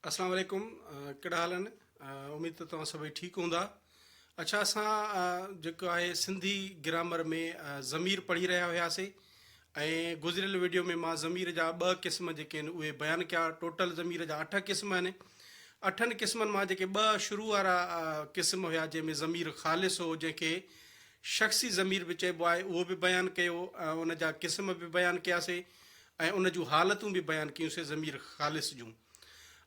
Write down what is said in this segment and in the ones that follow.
اسلام عليڪم ڪھڙا حال آھن اميد ته توھان سڀئي ٺيڪ ھوندا اڇا اسان جيڪو آھي سنڌي گرامر ۾ ضمير پڙھي رھيا ھياسي ۽ گذريل ويڊيو ۾ مان ضمير جا ٻه قسم جيڪي آھن اھي بيان ڪيا ٽوٽل ضمير جا اٺ قسم آھن اٺن قسمن مان جيڪي ٻه شروع وارا قسم ھيا جنھن ۾ ضمير خالص ھو جنھن کي شخصي ضمير به چئبو آھي اھو به بيان ڪيو ان جا قسم به بيان ڪياسي ۽ ان جون حالتون به بيان ڪيون سي ضمير خالص جون.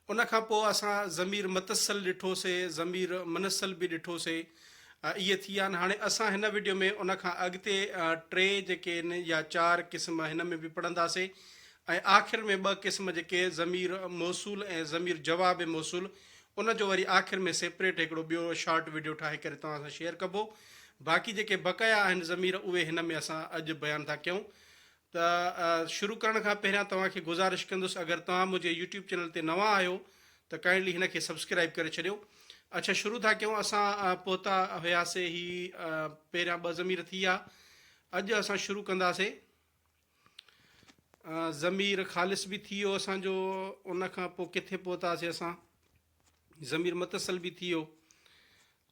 ان کان پوء اسان ضمير متصل ڏٺو سي، ضمير منصل به ڏٺو سي. اهي ٿي ويا آهن. هاڻي اسان هن وڊيو ۾ ان کان اڳتي ٽي جيڪي آهن يا چار قسم هن ۾ به پڙهندا سي ۽ آخر ۾ ٻه قسم جيڪي ضمير موصول ۽ ضمير جواب موصول ان جو وري آخر ۾ سيپريٽ هڪڙو ٻيو شارٽ وڊيو ٺاهي ڪري توهان سان شيئر ڪبو. باقي جيڪي بقايا آهن ضمير اهي هن ۾ اسان اڄ بيان ٿا ڪيون. ته شروع ڪرڻ کان پهريان توهان کي گذارش ڪندس اگر توهان منهنجي يوٽيوب چينل تي نوان آهيو ته ڪائنڊلي هن کي سبسڪرائيب ڪري ڇڏيو اڇا شروع ٿا ڪيون اسان پهتا هياسي هي پهريان ٻه ضمير ٿي ويا اڄ اسان شروع ڪنداسي ضمير خالص به ٿي ويو اسان جو ان کان پوء ڪٿي پهتاسي اسان ضمير متصل به ٿي ويو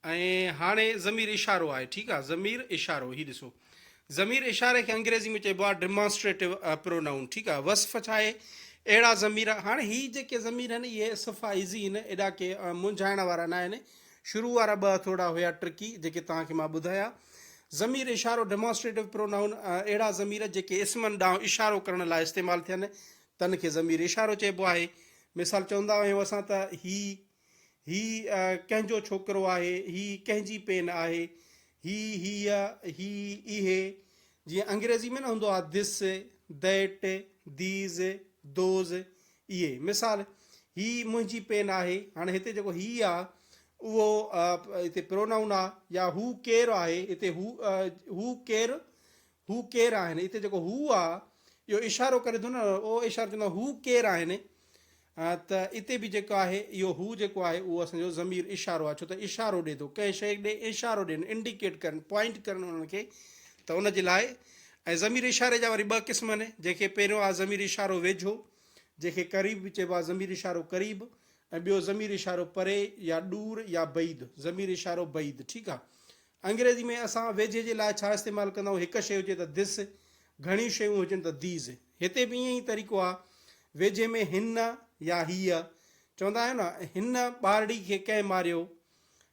۽ هاڻي ضمير اشارو آهي ٺيڪ آهي ضمير اشارو هي ڏسو ضمير اشاري کي انگريزي ۾ چئبو آهي ڊيمانسٽريٽو پرونائون ٺيڪ آهي وصف ڇا آهي اهڙا ضمير هاڻي هي جيڪي ضمير آهن اهي صفا ايزي آهن ايڏا ڪي منجهائڻ وارا نه آهن شروع وارا ٻه ٿورا هيا ٽرڪي جيڪي توهان کي مان ٻڌايا ضمير اشارو ڊيمانسٽريٽو پرونائون اهڙا ضمير جيڪي اسمن ڏانهن اشارو ڪرڻ لاء استعمال ٿين تن کي ضمير اشارو چئبو آهي. مثال چوندا آهيون اسان ته هي، هي ڪنهن جو ڇوڪرو آهي، هي ڪنهن جي پين آهي، هي، هيء، هي، اهي، جيئن انگريزي ۾ نه هوندو آهي This، That، These، Those، اهي. مثال، هي منهنجي پين آهي. هاڻي هتي جيڪو هي آ اهو هتي پرونائون آ يا هو ڪير آهي هتي هو، هو ڪير، هو ڪير آهن؟ هتي جيڪو هو آ اهو اشارو ڪري ٿو نه او اشارو چوندو هو ڪير آهن؟ ته اتي به جيڪو آهي اهو هو جيڪو آهي اهو اسان جو ضمير اشارو آ ڇو ته اشارو ڏي ٿو ڪنهن شيء ڏي اشارو ڏين انڊيڪيٽ ڪرن پوائنٽ ڪرن انهن کي ته ان جي لاء ۽ ضمير اشاري جا وري ٻه قسم آهن جنهن کي پهريون آ ضمير اشارو ويجهو جنهن کي قريب به چئبو آ ضمير اشارو قريب ۽ ٻيو ضمير اشارو پري يا ڏور يا بعيد ضمير اشارو بعيد ٺيڪ آ انگريزي ۾ اسان ويجهي جي لاء ڇا استعمال ڪندا آهيون، هڪ شيء هجي ته This، گهڻيون شيون هجن ته These. هتي به ائين ئي طريقو آهي. ويجهي ۾ هن يا هيء چوندا آهيون نه، هن ٻارڙي کي ڪنهن ماريو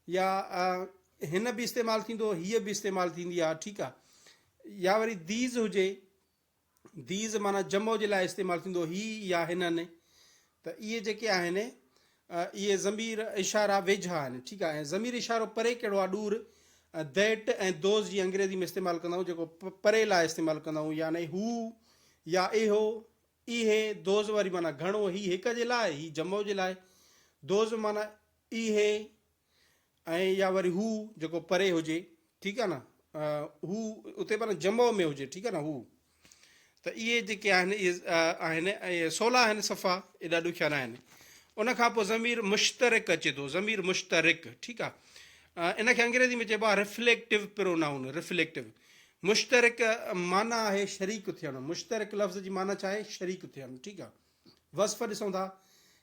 يا هن به استعمال ٿيندو، هيء به استعمال ٿيندي آهي، ٺيڪ آهي. يا وري These هجي. These معنيٰ جمع جي لاء استعمال ٿيندو هي يا هنن ته اهي جيڪي آهن اهي ضمير اشاره ويجها آهن ٺيڪ آهي ۽ ضمير اشارو پري ڪهڙو آهي ڏور That ۽ Those جي انگريزي ۾ استعمال ڪندا آهيون جيڪو پري لاء استعمال ڪندا آهيون يعني هو يا اهو اهي Those واري معنيٰ گهڻو هي هڪ جي لاء هي جمع جي لاء Those معنيٰ اهي ۽ يا وري هو جيڪو پري هجي ٺيڪ آهي نه هو اتي معنی جمع ۾ هجي ٺيڪ آهي نه هو ته اهي جيڪي آهن اهي آهن ۽ سولا آهن صفا ايڏا ڏکيا نه آهن ان کان پوء ضمير مشترڪ اچي ٿو ضمير مشترڪ ٺيڪ آهي ان کي انگريزي ۾ چئبو آهي رفليڪٽو پرونائون رفليڪٽو مشترڪ معنی آهي شريڪ ٿيڻ مشترڪ لفظ جي معنی ڇا آهي شريڪ ٿيڻ ٺيڪ آهي وصف ڏسون ٿا،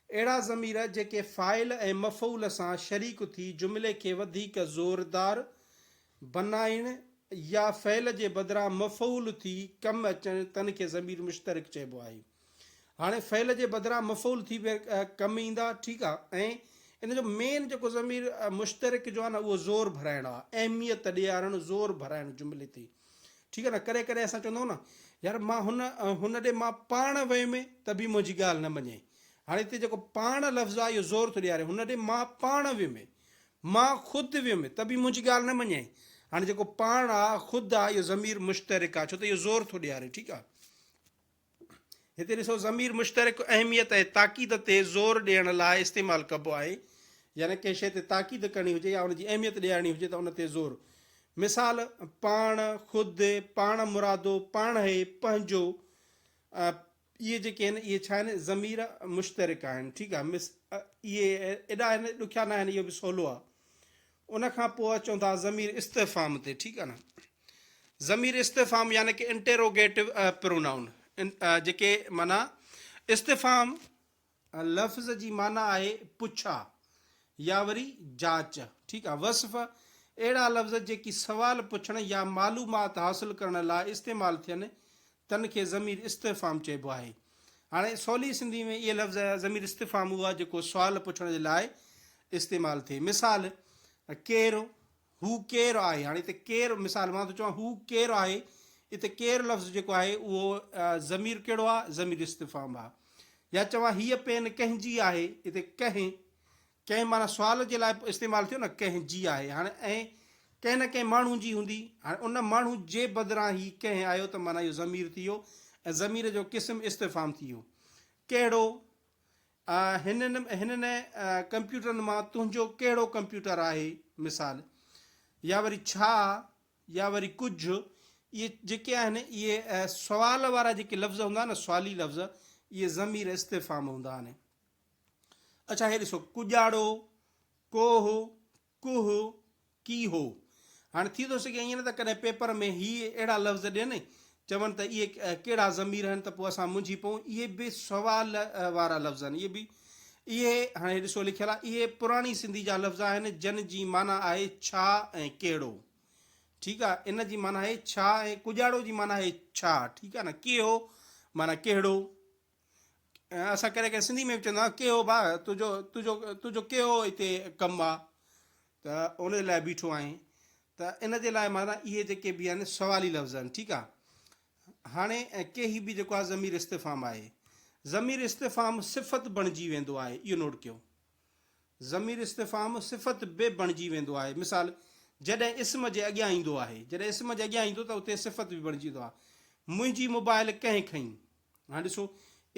اهڙا ضمير جيڪي فاعل ۽ مفعول سان شريڪ ٿي جملي کي وڌيڪ زوردار بنائين يا فعل جي بدران مفعول ٿي ڪم اچن تن کي ضمير مشترڪ چئبو آهي. هاڻي فعل جي بدران مفعول ٿي ڪم ايندا ٺيڪ آ ۽ ان جو مين جيڪو ضمير مشترڪ جو آ نه اهو زور ڀرائڻ آ اهميت ڏيارڻ زور ڀرائڻ جملي تي. ٺيڪ آهي نه ڪڏهن ڪڏهن اسان چوندو نه يار مان هن هن ڏي مان پاڻ ويم ته به منهنجي ڳالهه نه مڃين هاڻي هتي جيڪو پاڻ لفظ آهي اهو زور ٿو ڏياري هن ڏي مان پاڻ ويم مان خود ويم ته به منهنجي ڳالهه نه مڃين هاڻي جيڪو پاڻ آ خود آ اهو ضمير مشترڪ آ ڇو ته اهو زور ٿو ڏياري ٺيڪ آ. هتي ڏسو ضمير مشترڪ اهميت ۽ تاڪيد تي زور ڏيڻ لاء استعمال ڪبو آهي يعني ڪنهن شيء تي تاڪيد ڪرڻي هجي يا ان جي اهميت ڏيارڻي هجي ته ان تي زور مثال پاڻ خود پاڻ مرادو پاڻهي پنهنجو اهي جيڪي آهن اهي ڇا آهن ضمير مشترڪ آهن ٺيڪ آهي مس اهي ايڏا آهن ڏکيا نه آهن اهو به سولو آهي ان کان پوء اچون ٿا ضمير استفهام تي ٺيڪ آ نه. ضمير استفهام يعني ڪي انٽيروگيٽو پرونائون جيڪي معنيٰ استفهام لفظ جي معنيٰ آهي پڇا يا وري جاچ ٺيڪ آ وصف اهڙا لفظ جيڪي سوال پڇڻ يا معلومات حاصل ڪرڻ لاء استعمال ٿين تن کي ضمير استفهام چئبو آهي. هاڻي سولي سنڌي ۾ اهي لفظ ضمير استفهام اهو آهي جيڪو سوال پڇڻ جي لاء استعمال ٿئي. مثال، ڪير؟ هو ڪير آهي؟ هاڻي هتي ڪير مثال مان ٿو چوان هو ڪير آهي؟ هتي ڪير لفظ جيڪو آهي اهو ضمير ڪهڙو آهي؟ ضمير استفهام آهي. يا چوان هيء پين ڪنهن جي آهي؟ هتي ڪنهن ڪنهن معنيٰ سوال جي لاء استعمال ٿيو نه ڪنهن جي آهي هاڻي ۽ ڪنهن نه ڪنهن ماڻهو جي هوندي هاڻي ان ماڻهو جي بدران هي ڪنهن آيو ته معنيٰ اهو ضمير ٿي ويو ۽ ضمير جو قسم استفهام ٿي ويو ڪهڙو هنن هنن ڪمپيوٽرن مان تنهنجو ڪهڙو ڪمپيوٽر آهي مثال يا وري ڇا يا وري ڪجهه اهي جيڪي آهن اهي سوال وارا جيڪي لفظ هوندا آهن سوالي لفظ اهي ضمير استفهام هوندا آهن اڇا هي ڏسو ڪڄاڙو، ڪوهه، ڪوهه، ڪيهو. هاڻي ٿي ٿو سگهي ائين نه ته ڪڏهن پيپر ۾ هي اهڙا لفظ ڏين چون ته اهي ڪهڙا ضمير آهن ته پوء اسان منجهي پئون. اهي به سوال وارا لفظ آهن. اهي به اهي هاڻي هي ڏسو لکيل آهي اهي پراڻي سنڌي جا لفظ آهن جن جي معنيٰ آهي ڇا ۽ ڪهڙو. ٺيڪ آهي ان جي معنيٰ آهي ڇا ۽ ڪڄاڙو جي معنيٰ آهي ڇا ٺيڪ آهي نه ڪيهو معنيٰ ڪهڙو. اسان ڪڏهن ڪڏهن سنڌي ۾ به چوندا آهيون ڪي هو ڀاء تنهنجو تنهنجو تنهنجو ڪي هو هتي ڪم آ ته ان لاء بيٺو آهين ته ان جي لاء مانا اهي جيڪي به آهن سوالي لفظ آهن ٺيڪ آ هاڻي ڪي هي به جيڪو آ ضمير استفهام آهي ضمير استفهام صفت بڻجي ويندو آهي اهو نوٽ ڪيو ضمير استفهام صفت به بڻجي ويندو آهي مثال جڏهن اسم جي اڳيان ايندو آهي جڏهن اسم جي اڳيان ايندو ته اتي صفت به بڻجي ويندو آهي منهنجي موبائل ڪنهن کئي هاڻي ڏسو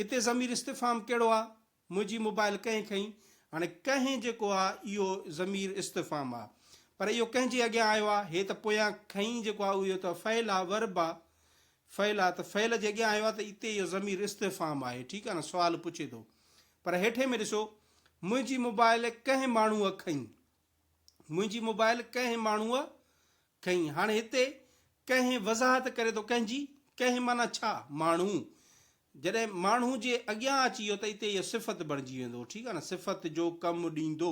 اتي ضمير استفهام ڪهڙو آ؟ منهنجي موبائل ڪنهن کنئي؟ هاڻي ڪنهن جيڪو آ اهو ضمير استفهام آ پر اهو ڪنهن جي اڳيان آيو آ؟ هي ته پويان کنئي جيڪو آ اهو ته فعل آ Verb آ فعل آ ته فعل جي اڳيان آيو آ ته اتي اهو ضمير استفهام آهي ٺيڪ آ نه سوال پڇي ٿو پر هيٺين ۾ ڏسو منهنجي موبائل ڪنهن ماڻهوء کنئي منهنجي موبائل ڪنهن ماڻهوء کنئي. هاڻي هتي ڪنهن وضاحت ڪري ٿو ڪنهن جي؟ ڪنهن معنيٰ ڇا؟ ماڻهو جڏهن ماڻهو جي اڳيان اچي ويو ته اتي اهو صفت بڻجي ويندو ٺيڪ آهي نه صفت جو ڪم ڏيندو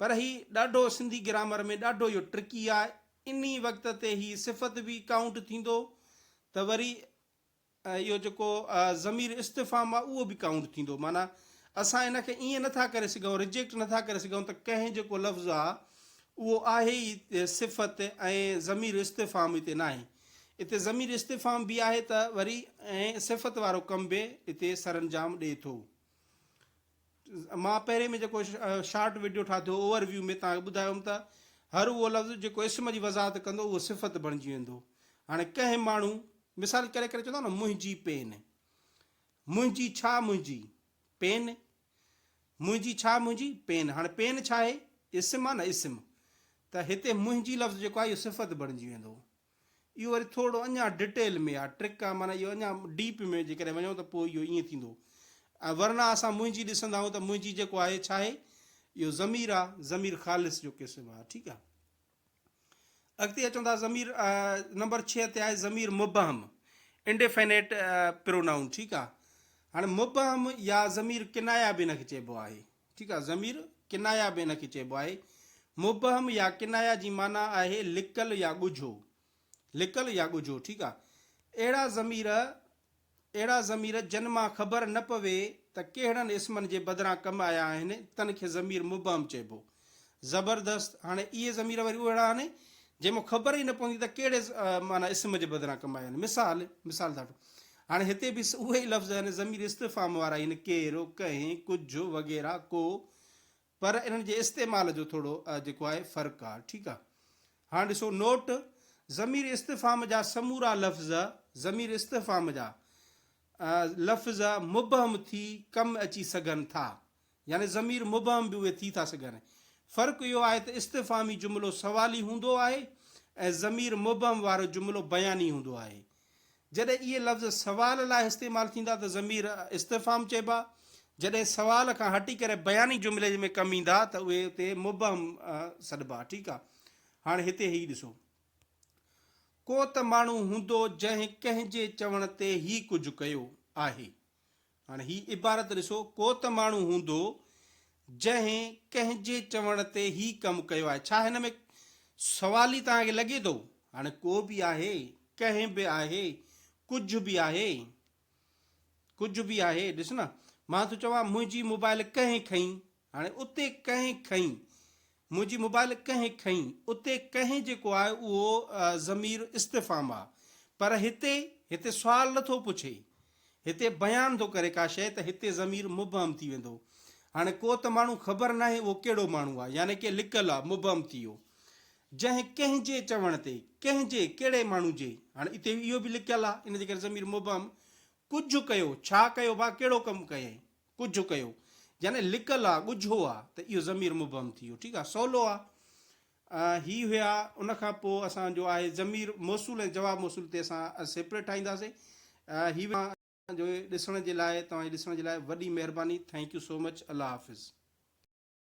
پر هي ڏاڍو سنڌي گرامر ۾ ڏاڍو اهو ٽرڪي آهي انهي وقت تي هي صفت به ڪائونٽ ٿيندو ته وري اهو جيڪو ضمير استفهام آهي اهو به ڪائونٽ ٿيندو معنيٰ اسان ان کي ائين نه ٿا ڪري سگهون ريجيڪٽ نه ٿا ڪري سگهون ته ڪنهن جيڪو لفظ آهي اهو آهي ئي صفت ۽ ضمير استفهام اتي ناهي اتي ضمير استفهام به آهي ته وري ۽ صفت وارو ڪم به اتي سرانجام ڏئي ٿو مان پهرين ۾ جيڪو شارٽ وڊيو ٺاهيو اوور ويو ۾ توهان کي ٻڌايو هوم ته هر اهو لفظ جيڪو اسم جي وضاحت ڪندو اهو صفت بڻجي ويندو هاڻي ڪنهن ماڻهو مثال ڪري ڪري چوندا نه منهنجي پين منهنجي ڇا منهنجي پين منهنجي ڇا منهنجي پين هاڻي پين ڇا آهي اسم آهي نه اسم ته هتي منهنجي لفظ جيڪو آهي اهو صفت بڻجي ويندو اهو وري ٿورڙو اڃا ڊٽيل ۾ آ ٽرڪ آ معنيٰ اهو اڃا ڊيپ ۾ جيڪڏهن وڃو ته پوء اهو ائين ٿيندو ۽ ورنه اسان منهنجي ڏسندا آهيون ته منهنجي جيڪو آهي ڇا آهي اهو ضمير آ ضمير خالص جو قسم آ ٺيڪ آ اڳتي اچون ٿا ضمير نمبر 6 تي آهي ضمير مبهم انڊيفينيٽ پرونائون ٺيڪ آ هاڻي مبهم يا ضمير ڪنايا به هن کي چئبو آهي ٺيڪ آهي، ضمير ڪنايه به ان کي چئبو آهي. مبهم يا ڪنايه جي معنيٰ آهي لڪل يا ڳجهو، لڪل يا ڳجهو، ٺيڪ آهي. اهڙا ضمير، اهڙا ضمير جن مان خبر نه پوي ته ڪهڙن اسمن جي بدران ڪم آيا آهن، تن کي ضمير مبهم چئبو. زبردست، هاڻي اهي ضمير وري اهڙا آهن، جن مان خبر ئي نه پوندي ته ڪهڙي معنيٰ اسم جي بدران ڪم آيا آهن. مثال، مثال ڌاٽو، هاڻي هتي به اهي ئي لفظ يعني ضمير استفهام وارا ئي آهن، ڪير، ڪنهن، ڪجهه وغيره، ڪو، پر انهن جي استعمال جو ٿورو جيڪو آهي فرق آهي، ٺيڪ آهي. هاڻ ڏسو نوٽ، ضمير استفهام جا سمورا لفظ، ضمير استفهام جا لفظ مبهم ٿي ڪم اچي سگهن ٿا، يعني ضمير مبهم به اهي ٿي ٿا سگهن. فرق اهو آهي ته استفهامي جملو سوالي هوندو آهي ۽ ضمير مبهم وارو جملو بياني هوندو آهي. جڏهن اهي لفظ سوال لاء استعمال ٿيندا ته ضمير استفهام چئبا، جڏهن سوال کان هٽي ڪري بياني جملي ۾ ڪم ايندا ته اهي اتي مبهم سڏبا. ٺيڪ آهي. هاڻ هتي هي ڏسو. ڪو ته ماڻهو هوندو جنهن ڪنهن جي چوڻ تي هي ڪجهه ڪيو آهي. هاڻ هي عبارت ڏسو، ڪو ته ماڻهو هوندو، جنهن ڪنهن جي چوڻ تي هي ڪم ڪيو آهي. ڇا هن ۾ سوال ئي توهان کي لڳي ٿو؟ هاڻ ڪو به آهي، ڪنهن به آهي، ڪجهه به آهي، ڪجهه به آهي، ڏس نه، مان ٿو چوان، منهنجي موبائل ڪنهن کنئي، هاڻي اتي ڪنهن کنئي منهنجي موبائل ڪنهن کنئي اتي ڪنهن جيڪو آهي اهو ضمير استفهام آ پر هتي هتي سوال نه ٿو پڇي هتي بيان ٿو ڪري ڪا شيء ته هتي ضمير مبهم ٿي ويندو هاڻي ڪو ته ماڻهو خبر ناهي اهو ڪهڙو ماڻهو آ يعني ڪي لڪل آ مبهم ٿي ويو جنهن ڪنهن جي چوڻ تي ڪنهن جي ڪهڙي ماڻهو جي هاڻي اتي اهو به لڪل آ ان جي ڪري ضمير مبهم ڪجهه ڪيو ڇا ڪيو ڀا ڪهڙو ڪم ڪيئي ڪجهه ڪيو يعني لڪل آ، ڳجهو آ ته اهو ضمير مبهم ٿي ويو ٺيڪ آ سولو آ هي هيا ان کان پوء اسان جو آهي ضمير موصول ۽ جواب موصول تي اسان سيپريٽ ٺاهينداسين هي جو ڏسڻ جي لاء توهان جي ڏسڻ جي لاء وڏي مهرباني ٿينڪ يو سو مچ الله حافظ.